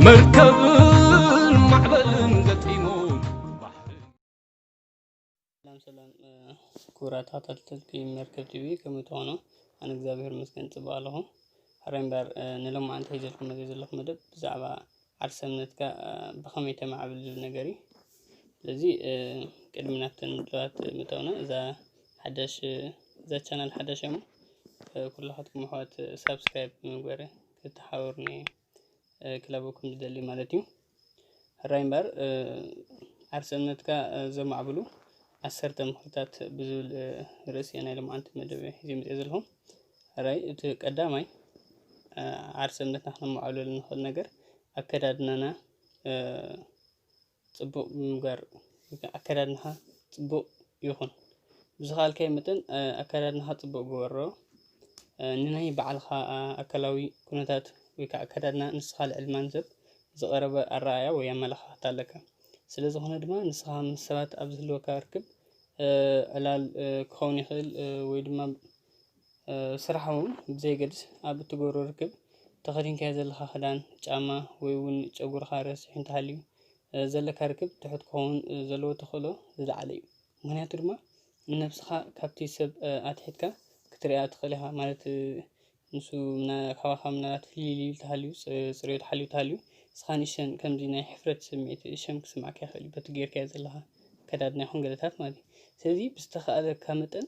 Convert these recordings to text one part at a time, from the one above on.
መርከብን ማዕበልን ገጢሙ ሰላም ሰላም ክቡራት ተኸታተልቲ መርከብ ቲቪ ከመይ ትኾኑ? ኣነ እግዚኣብሔር ይመስገን ፅቡቅ ኣለኹ። ሕራይ እምበር ንሎማዓንቲ ሒዘልኩም መፅየ ዘለኹ መደብ ብዛዕባ ዓርሰ እምነትካ ብኸመይ ተማዕብል ዝብል ነገር እዩ። ስለዚ ቅድሚ ናብተን መደባት ምእታውና እዛ ሓደሽ እዛ ቻናል ሓደሽ እያ እሞ ኩላኻትኩም ኣሕዋት ሳብስክራይብ ብምግባር ክተሓበሩኒ ክለበኩም ዝደሊ ማለት እዩ ሕራይ እምበር ዓርሰ እምነትካ ዘማዕብሉ ዓሰርተ ምኽርታት ብዝብል ርእሲ ናይ ልምዓንቲ መደብ ሒዘ መፅኦ ዘለኹ ሕራይ እቲ ቀዳማይ ዓርሰ እምነትና ክነማዕብለሉ ንኽእል ነገር ኣከዳድናና ጽቡቅ ምንባር ግን ኣከዳድናኻ ጽቡቅ ይኹን ብዝኻኣልካዮ መጠን ኣከዳድናኻ ጽቡቅ ግበሮ ንናይ ባዕልኻ ኣካላዊ ኩነታት ወይ ካዓ ኣከዳድና ንስኻ ልዕሊ ማንም ሰብ ዝቀረበ ኣረኣእያ ወይ ኣመለኻኽታ ኣለካ ስለ ዝኾነ ድማ ንስኻ ምስ ሰባት ኣብ ዝህልወካ ርክብ ዕላል ክኸውን ይኽእል ወይ ድማ ስራሕ እውን ብዘየገድስ ኣብ እትገብሮ ርክብ ተኸዲንካዮ ዘለኻ ክዳን፣ ጫማ ወይ እውን ጨጉርኻ ረሲሑ እንተሃልዩ ዘለካ ርክብ ትሑት ክኸውን ዘለዎ ተኽእሎ ዝለዓለ እዩ። ምኽንያቱ ድማ ንነብስኻ ካብቲ ሰብ ኣትሒትካ ክትሪኣ ትኽእል ኢኻ ማለት ንሱ ካባኻ ምናልባት ፍልይ ኢሉ እንተሃልዩ ፅርየቱ ሓልዩ እንተሃልዩ ንስኻ ንእሽተን ከምዚ ናይ ሕፍረት ስምዒት ሸም ክስምዓካ ይኽእል እዩ በቲ ጌርካዮ ዘለኻ ኣከዳድና ይኹን ገለታት ማለት እዩ። ስለዚ ብዝተኻእለካ መጠን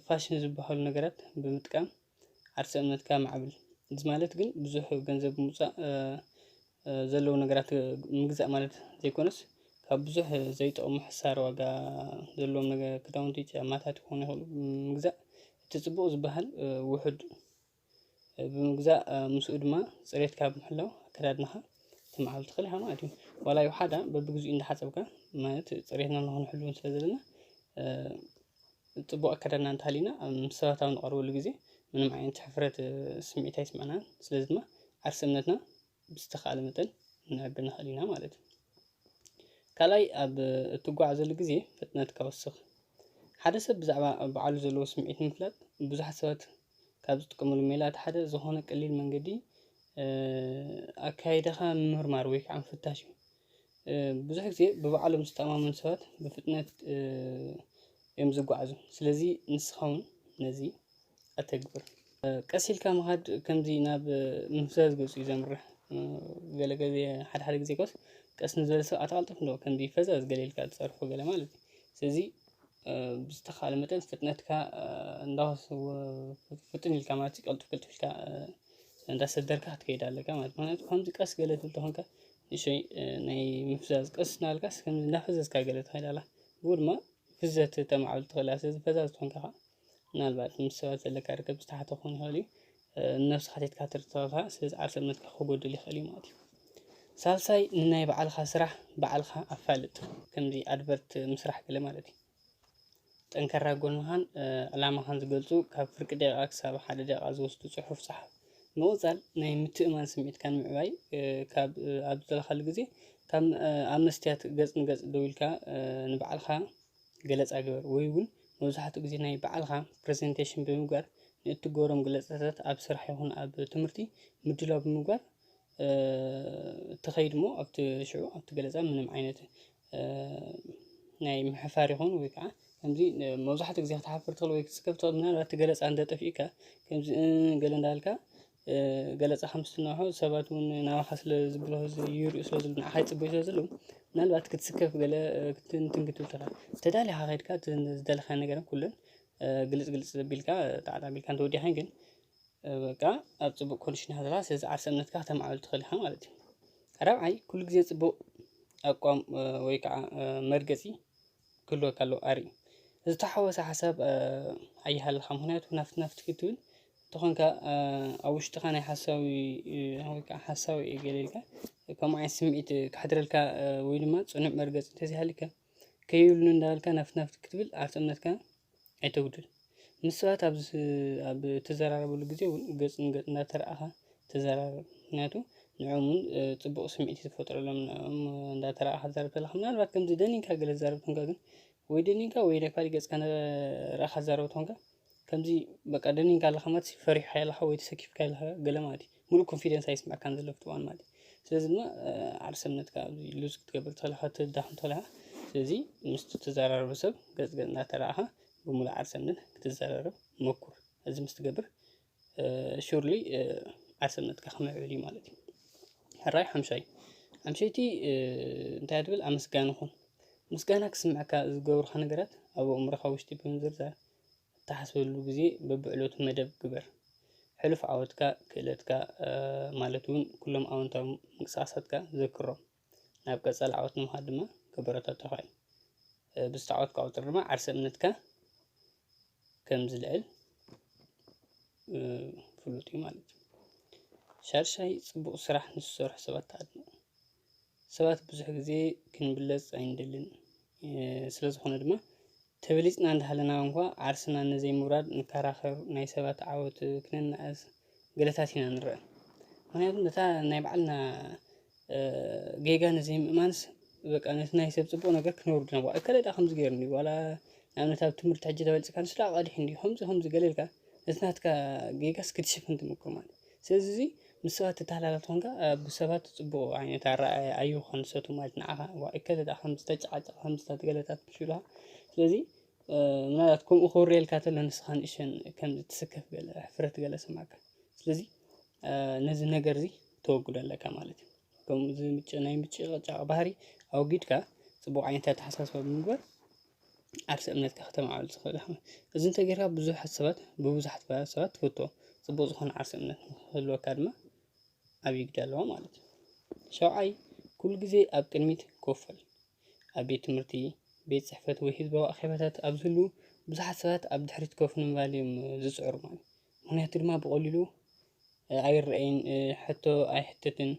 ፋሽን ዝበሃሉ ነገራት ብምጥቃም ዓርሰ እምነትካ ኣማዕብል እዚ ማለት ግን ብዙሕ ገንዘብ ብምውፃእ ዘለዉ ነገራት ምግዛእ ማለት ዘይኮነስ ካብ ብዙሕ ዘይጠቕሙ ሕሳር ዋጋ ዘለዎም ክዳውንቲ ጫማታት ክኾኑ ይኽእሉ ምግዛእ እቲ ፅቡቕ ዝበሃል ውሑድ ብምግዛእ ምስኡ ድማ ፅሬትካ ብምሕላው ኣከዳድናኻ ክትምዓብል ትኽእል ኢኻ ማለት እዩ። ዋላ ይውሓዳ በብግዚኡ እንዳሓፀብካ ማለት ፅሬትና ንክንሕሉ ስለ ዘለና ፅቡቕ ኣከዳድና እንተሃልዩና ኣብ ምስ ሰባት ኣብ ንቐርበሉ ግዜ ምንም ዓይነት ሕፍረት ስምዒት ኣይስምዐናን። ስለዚ ድማ ዓርሰ እምነትና ብዝተኻእለ መጠን ክንዕቢ ንኽእል ኢና ማለት እዩ። ካልኣይ ኣብ እትጓዓዘሉ ግዜ ፍጥነትካ ወስኽ። ሓደ ሰብ ብዛዕባ በዓሉ ዘለዎ ስምዒት ንምፍላጥ ብዙሓት ሰባት ካብ ዝጥቀምሉ ሜላ እቲ ሓደ ዝኾነ ቀሊል መንገዲ ኣካይዳኻ ምምርማር ወይ ከዓ ምፍታሽ እዩ። ብዙሕ ግዜ ብባዕሎም ዝተኣማመኑ ሰባት ብፍጥነት እዮም ዝጓዓዙ። ስለዚ ንስኻ ውን ነዚ ኣተግብር። ቀስ ኢልካ ምኻድ ከምዚ ናብ ምፍዛዝ ገጹ እዩ ዘምርሕ። ገለ ግዜ ሓደ ሓደ ግዜ ኮስ ቀስ ንዝበለ ሰብ ኣተቀልጥፍ ኣለዎ ከምዚ ፈዛዝ ገለ ኢልካ ትጸርፎ ገለ ማለት እዩ። ስለዚ ብዝተኻለ መጠን ፍጥነትካ እንዳወሰ ፍጥን ኢልካ ማለት ቅልጥፍ ቅልጥፍ ኢልካ እንዳሰደርካ ክትከይድ ኣለካ ማለት እዩ። ምክንያቱ ከምዚ ቀስ ገለ ትብል ተኾንካ ንእሽቶይ ናይ ምፍዛዝ ቀስ እናበልካስ ከምዚ እናፈዘዝካ ገለ ትኸይድ ኣላ ብኡ ድማ ፍዘት ተማዕብል ትኽእል እያ ስለዚ ፈዛዝ ትኾንካ ከዓ ምናልባት ምስ ሰባት ዘለካ ርክብ ዝተሓተ ክኸውን ይኽእል እዩ ንነብሲ ሓቲትካ ትርትረኻ ስለዚ ዓርሰ እምነትካ ክጎድል ይኽእል እዩ ማለት እዩ ሳልሳይ ንናይ ባዕልኻ ስራሕ ባዕልኻ ኣፋልጥ ከምዚ ኣድቨርት ምስራሕ ገለ ማለት እዩ ጠንካራ ጎንኻን ዕላማኻን ዝገልጹ ካብ ፍርቂ ደቂቃ ክሳብ ሓደ ደቂቃ ዝወስዱ ጽሑፍ ጸሓፍ። ምቕጻል ናይ ምትእማን ስምዒትካ ንምዕባይ ካብ ኣብ ዝደለኻሉ ግዜ ካብ ኣብ መስትያት ገጽ ንገጽ ደው ኢልካ ንባዕልኻ ገለጻ ግበር ወይ እውን መብዛሕትኡ ግዜ ናይ ባዕልኻ ፕረዘንተሽን ብምግባር ንእትገብሮም ገለጻታት ኣብ ስራሕ ይኹን ኣብ ትምህርቲ ምድላው ብምግባር ተኸይድ እሞ ኣብቲ ሽዑ ኣብቲ ገለጻ ምንም ዓይነት ናይ ምሕፋር ይኹን ወይ ከዓ ከምዚ መብዛሕትኡ ግዜ ክትሓፍር ትኽእል ወይ ክትስከፍ ትኽእል ምናልባት እቲ ገለፃ እንተጠፊኡካ ከምዚ ገለ እንዳበልካ ገለፃ ከም ዝስምዖ ሰባት እውን ናባኻ ስለ ዝብገሱ ይሪኡ ስለ ዘለዉ ንዓኻ ይፅበዩ ስለ ዘለዉ ምናልባት ክትስከፍ ገለ ክትብል ክትብል ትኽእል ተዳሊኻ ከይድካ እቲ ዝደለኻዮ ነገር ኩለን ግልፅ ግልፅ ኣቢልካ ጣዕጣዕ ኣቢልካ እንተወዲእካን ግን በቃ ኣብ ጽቡቅ ኮንዲሽን ኢኻ ዘለኻ ስለዚ ዓርሰ እምነትካ ከተማዕብል ትኽእል ኢኻ ማለት እዩ። ራብዓይ ኩሉ ግዜ ጽቡቅ ኣቋም ወይ ከዓ መርገጺ ክህልወካ ኣለዎ ኣርኢ ዝተሓወሰ ሓሳብ ኣይሃልኻ ምክንያቱ ናፍቲ ናፍቲ ክትብል እንተኾንካ ኣብ ውሽጥኻ ናይ ሓሳዊ ወይ ከዓ ሓሳዊ እየ ገለ ኢልካ ከምኡ ዓይነት ስምዒት ከሕድረልካ ወይ ድማ ጽኑዕ መርገጺ እንተዘይሃሊካ ከይብሉኒ እንዳበልካ ናፍት ናፍት ክትብል ዓርሰ እምነትካ ኣይተጉድል። ምስ ሰባት ኣብ ኣብ እትዘራረበሉ ግዜ እውን ገጽ ንገጽ እንዳተራእኻ ተዘራረብ። ምክንያቱ ንዕኦም እውን ጽቡቕ ስምዒት እዩ ዝፈጥረሎም ንዕኦም እንዳተራእኻ ክትዛረብ ከለኻ። ምናልባት ከምዚ ደኒንካ ገለ ትዛረብ ተኾንካ ግን ወይ ደኒንካ ወይ ናይ ካልእ ገጽካ እንዳራእኻ ትዛረብ ተኾንካ ከምዚ በቃ ደኒንካ ኣለኻ ማለት ሲ ፈሪሕካ ኣለኻ ወይ ተሰኪፍካ ኣለኻ ገለ ማለት እዩ። ሙሉእ ኮንፊደንስ ኣይስምዐካን ዘሎ ኣብቲ እዋን ማለት እዩ። ስለዚ ድማ ዓርሰ እምነትካ ኣብዚ ሉዝ ክትገብር ትኽእል ኢኻ ከተዳኽም ትኽእል ኢኻ። ስለዚ ምስቲ እትዘራረቦ ሰብ ገጽ ገጽ እናተራእኻ ብሙሉእ ዓርሰ እምነት ክትዘራረብ ሞኩር። እዚ ምስ ትገብር ሹርሊ ዓርሰነትካ ክምዕብል እዩ ማለት እዩ። ሕራይ ሓምሻይ ሓምሸይቲ እንታይ እያ ትብል ኣመስጋኒ ኩን ምስጋና ክስምዐካ ዝገብሩኻ ነገራት ኣብ ኣእምሮኻ ውሽጢ ብምዝርዛር እትሓስበሉ ግዜ በብዕለቱ መደብ ግበር። ሕሉፍ ዓወትካ ክእለትካ ማለት እውን ኩሎም ኣወንታዊ ምንቅስቓሳትካ ዘክሮም። ናብ ቀጻሊ ዓወት ንምኻድ ድማ ከበረታቱኻ እዩ። ብዝተዓወትካ ቁጽሪ ድማ ዓርሰ እምነትካ ከም ዝልዕል ፍሉጥ እዩ ማለት እዩ። ሻድሻይ ጽቡቕ ስራሕ ንዝሰርሑ ሰባት ኣድንቕ። ሰባት ብዙሕ ግዜ ክንብለጽ ኣይንደልን። ስለ ዝኾነ ድማ ተበሊጽና እንዳሃለና እንኳ ዓርስና ንዘይምውራድ ንከራኸር፣ ናይ ሰባት ዓወት ክነናእስ ገለታት ኢና ንረኣ። ምክንያቱ ነታ ናይ ባዕልና ጌጋ ንዘይምእማንስ በቃ ነቲ ናይ ሰብ ጽቡቕ ነገር ክነውርድ ናብ እከለ ድኣ ከምዚ ገይሩ እንድዩ ዋላ ንኣብነት ኣብ ትምህርቲ ሕጂ ተበልጽካ ንሱ ድኣ ቀዲሑ እንድዩ ከምዚ ከምዚ ገለ ኢልካ ነቲ ናትካ ጌጋስ ክትሽፍን ትምኩር ማለት ስለዚ እዚ ምስ ሰባት ትተሓላለፍ ተኾንካ ብሰባት ፅቡቕ ዓይነት ኣረኣእያ ኣይህልዎኻን ንሳቶም ማለት ንዓኻ ዋ እከለ ደኣ ከምዚ ተጨቓጨቐ ከምዚ ተገለጠ ክብሉኻ ስለዚ ምናልባት ከምኡ ክውረየልካ ተሎ ንስኻ ንእሽተን ከምዚ ትስከፍ ገለ ሕፍረት ገለ ይስምዓካ ስለዚ ነዚ ነገር እዚ ተወግዶ ኣለካ ማለት እዩ ከምዚ ምጭ ናይ ምጭቕጫቕ ባህሪ ኣወጊድካ ፅቡቕ ዓይነት ኣተሓሳስባ ብምግባር ዓርሰ እምነትካ ከተማዕብል ትኽእል ኢኻ። እዚ እንተገይርካ ብዙሓት ሰባት ብብዙሓት ሰባት ትፍቶ ፅቡቅ ዝኾነ ዓርሰ እምነት ንኽህልወካ ድማ ዓብዪ ግደ ኣለዎ ማለት እዩ። ሻውዓይ ኩሉ ግዜ ኣብ ቅድሚት ኮፍ በል። ኣብ ቤት ትምህርቲ፣ ቤት ፅሕፈት ወይ ህዝባዊ ኣኼባታት ኣብ ዝህሉ ብዙሓት ሰባት ኣብ ድሕሪት ኮፍ ንምባል እዮም ዝፅዕሩ ማለት እዩ። ምኽንያቱ ድማ ብቀሊሉ ኣይረኣይን ሕቶ ኣይሕተትን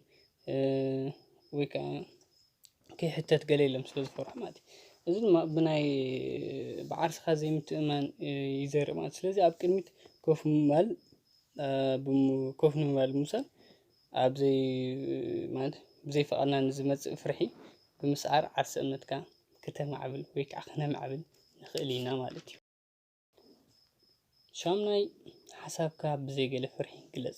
ወይ ከዓ ከይሕተት ገለ ኢሎም ስለ ዝፈርሑ ማለት እዩ። እዚ ድማ ብናይ ብዓርስኻ ዘይምትእምማን ይዘርእ ማለት እዩ። ስለዚ ኣብ ቅድሚት ኮፍ ምባል ኮፍ ንምባል ምውሳድ ኣብ ዘይ ማለት ብዘይ ፍቓድና ንዝመፅእ ፍርሒ ብምስዓር ዓርሰ እምነትካ ክተማዕብል ወይ ከዓ ክነማዕብል ንኽእል ኢና ማለት እዩ። ሻሙናይ፣ ሓሳብካ ብዘይ ገለ ፍርሒ ግለጽ።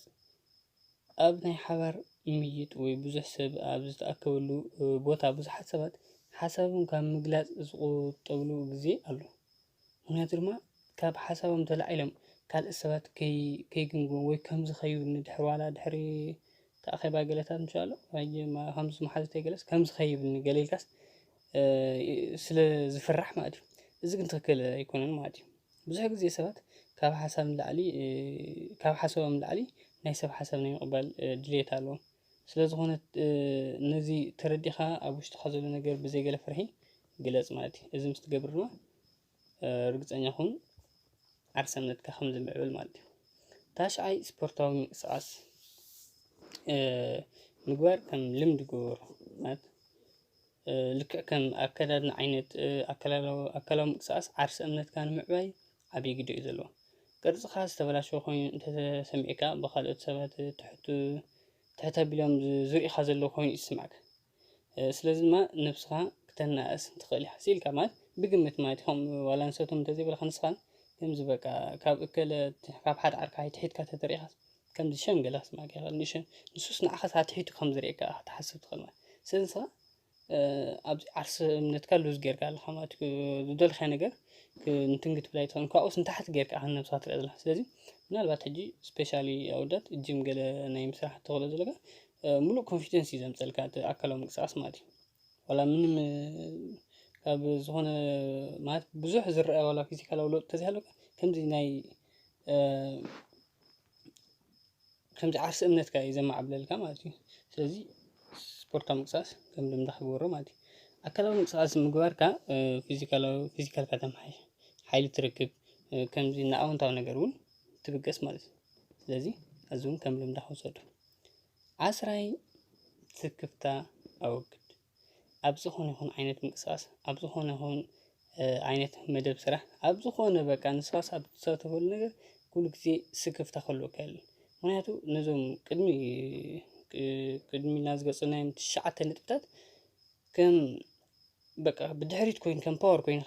ኣብ ናይ ሓባር ምይይጥ ወይ ብዙሕ ሰብ ኣብ ዝተኣከበሉ ቦታ ብዙሓት ሰባት ሓሳቦም ካብ ምግላጽ ዝቑጠብሉ ግዜ ኣሎ። ምኽንያቱ ድማ ካብ ሓሳቦም ተላዒሎም ካልኦት ሰባት ከይግምግሙ ወይ ከም ዝኸዩ ንድሕሪ ዋላ ድሕሪ እቲ ኣኼባ ገለታት ምስ በሉ ከምዚ መሓዙተይ ገለስ ከም ዝኸይብኒ ገለ ኢልካስ። ስለ ዝፍራሕ ማለት እዩ። እዚ ግን ትኽክል ኣይኮነን ማለት እዩ። ብዙሕ ግዜ ሰባት ካብ ሓሳብ ንላዕሊ ካብ ሓሳቦም ንላዕሊ ናይ ሰብ ሓሳብ ናይ ምቕባል ድሌት ኣለዎም። ስለ ዝኾነ ነዚ ተረዲእኻ ኣብ ውሽጥኻ ዘሎ ነገር ብዘይ ገለ ፍርሒ ግለጽ ማለት እዩ። እዚ ምስ ትገብር ድማ ርግጸኛ ኹን ዓርሰነትካ ከም ዝምዕብል ማለት እዩ። ታሽዓይ ስፖርታዊ ምንቅስቃስ ምግባር ከም ልምዲ ግበሮ ማለት ልክዕ ከም ኣከዳድና ዓይነት ኣካላዊ ምንቅስቃስ ዓርሰ እምነትካ ንምዕባይ ዓብዪ ግደ እዩ ዘለዎ። ቅርፅኻ ዝተበላሸወ ኮይኑ እንተተሰሚዕካ ብኻልኦት ሰባት ትሕት ትሕት ኣቢሎም ዝርእዩኻ ዘለዉ ኮይኑ እዩ ዝስምዓካ። ስለዚ ድማ ነብስኻ ክተናእስ ትኽእል ኢኻ ስኢልካ ማለት ብግምት ማለት እዩ ከምኡ ዋላ ንሳቶም እንተዘይበሉኻ ንስኻ ከምዚ በቃ ካብ እከለ ካብ ሓደ ዓርኪ ኣይትሒትካ ተተሪኢኻ ከምዚ ሸም ገለ ክስምዓካ ይኽእል ንሸም ንሱስ ንዓኻስ ኣትሒቱ ከም ዝሪኤካ ኢኻ ክትሓስብ ትኽእል ማለት እዩ ስለዚ ንስኻ ኣብዚ ዓርሰ እምነትካ ሉዝ ጌርካ ኣለኻ ማለት እዩ ዝደለኻዮ ነገር እንትን ክትብል ኣይትኽእልን ካብኡስ ንታሕቲ ጌርካ ኢኻ ንነብስኻ ትሪኣ ዘለኻ ስለዚ ምናልባት ሕጂ ስፔሻሊ ኣወዳት ጂም ገለ ናይ ምስራሕ ተኽእሎ ዘለካ ሙሉእ ኮንፊደንስ እዩ ዘምፀልካ እቲ ኣካላዊ ምንቅስቃስ ማለት እዩ ዋላ ምንም ካብ ዝኾነ ማለት ብዙሕ ዝረኣ ዋላ ፊዚካላዊ ለውጢ ተዘይሃለወካ ከምዚ ናይ ከምዚ ዓርሰ እምነትካ እዩ ዘማዕብለልካ ማለት እዩ ስለዚ ስፖርታዊ ምንቅስቃስ ከም ልምዲ ክገብሮ ማለት እዩ ኣካላዊ ምንቅስቃስ ምግባርካ ፊዚካላዊ ፊዚካልካ ተማሓይሽ ሓይሊ ትረክብ ከምዚ ንኣወንታዊ ነገር እውን ትብገስ ማለት እዩ ስለዚ እዚ እውን ከም ልምዲ ክውሰዶ ዓስራይ ስክፍታ ኣወግድ። ኣብ ዝኾነ ይኹን ዓይነት ምንቅስቃስ ኣብ ዝኾነ ይኹን ዓይነት መደብ ስራሕ ኣብ ዝኾነ በቃ ንስኻስ ኣብ ትሳተፈሉ ነገር ኩሉ ግዜ ስክፍታ ክህልወካ የለን። ምክንያቱ ነዞም ቅድሚ ቅድሚ ኢልና ዝገለፅናዮም ትሽዓተ ነጥብታት ከም በቃ ብድሕሪት ኮይኑ ከም ፓወር ኮይኑ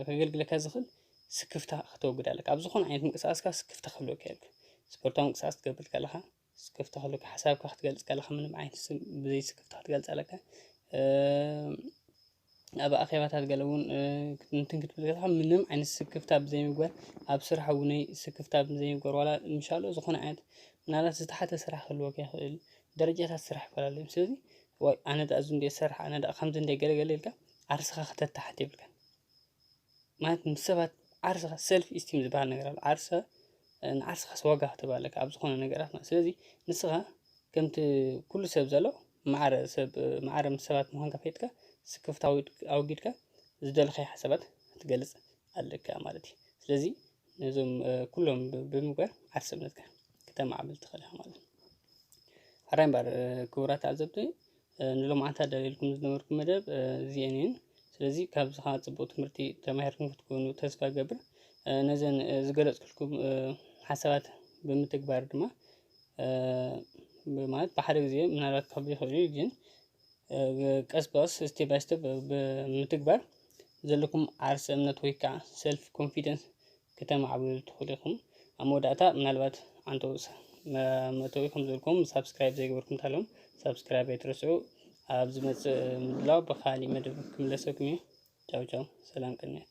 ከገልግለካ ዝኽእል ስክፍታ ከተወግድ ኣለካ። ኣብ ዝኾነ ዓይነት ምንቅስቃስካ ስክፍታ ክህልወካ የለን። ስፖርታዊ ምንቅስቃስ ክትገብር ከለኻ ስክፍታ ክህልወካ ሓሳብካ ክትገልፅ ከለኻ ምንም ዓይነት ስም ብዘይ ስክፍታ ክትገልፅ ኣለካ ኣብ ኣኼባታት ገለ እውን እንትን ክትብል ከለኻ ምንም ዓይነት ስክፍታ ብዘይምግባር ኣብ ስራሕ እውነይ ስክፍታ ብዘይምግባር ዋላ ምሻሎ ዝኾነ ዓይነት ምናልባት ዝተሓተ ስራሕ ክህልወካ ይኽእል ደረጃታት ስራሕ ይፈላለዩ እዮም ስለዚ ዋይ ኣነ ደኣ እዚ እንድየ ዝሰርሕ ኣነ ደኣ ከምዚ እንድየ ገለ ገለ ኢልካ ዓርስኻ ከተታሕት የብልካን ማለት ምስ ሰባት ዓርስኻ ሰልፍ ኢስቲም ዝበሃል ነገር ኣሎ ዓርሰ ንዓርስኻስ ዋጋ ክትህብ ኣለካ ኣብ ዝኾነ ነገራት ማለት ስለዚ ንስኻ ከምቲ ኩሉ ሰብ ዘሎ ማዕረ ሰብ ማዕረ ምስ ሰባት ምዃንካ ኣፍሊጥካ ስክፍታ ኣወጊድካ ዝደለኻዮ ሓሳባት ክትገልጽ ኣለካ ማለት እዩ። ስለዚ ነዞም ኩሎም ብምግባር ዓርሰ እምነትካ ክተማዕብል ትኽእል ኢኻ ማለት እዩ። ሓራይ እምበኣር ክቡራት ተዓዘብቲ ንሎምዓንቲ ኣዳልየልኩም ዝነበርኩ መደብ እዚኤን እየን ስለዚ ካብዚ ከዓ ፅቡቅ ትምህርቲ ተማሂርኩም ክትኮኑ ተስፋ ገብር ነዘን ዝገለፅኩልኩም ሓሳባት ብምትግባር ድማ ማለት ብሓደ ጊዜ ምናልባት ክከብድ ይክእል እዩ ግን ቀስ ብቀስ ስቴፕ ባይ ስቴፕ ብምትግባር ዘለኩም ዓርሰ እምነት ወይ ከዓ ሰልፍ ኮንፊደንስ ክተማዕብሉ ትኽእሉ ኢኹም። ኣብ መወዳእታ ምናልባት ዓንተው መእተዊ ከም ዘልኩም ሳብስክራይብ ዘይገበርኩም እንተሃለኹም ሳብስክራይብ ኣይትረስዑ። ኣብ ዝመጽእ ምድላው ብኻሊእ መደብ ክምለሰኩም እዩ። ቻው ቻው፣ ሰላም ቅንያት።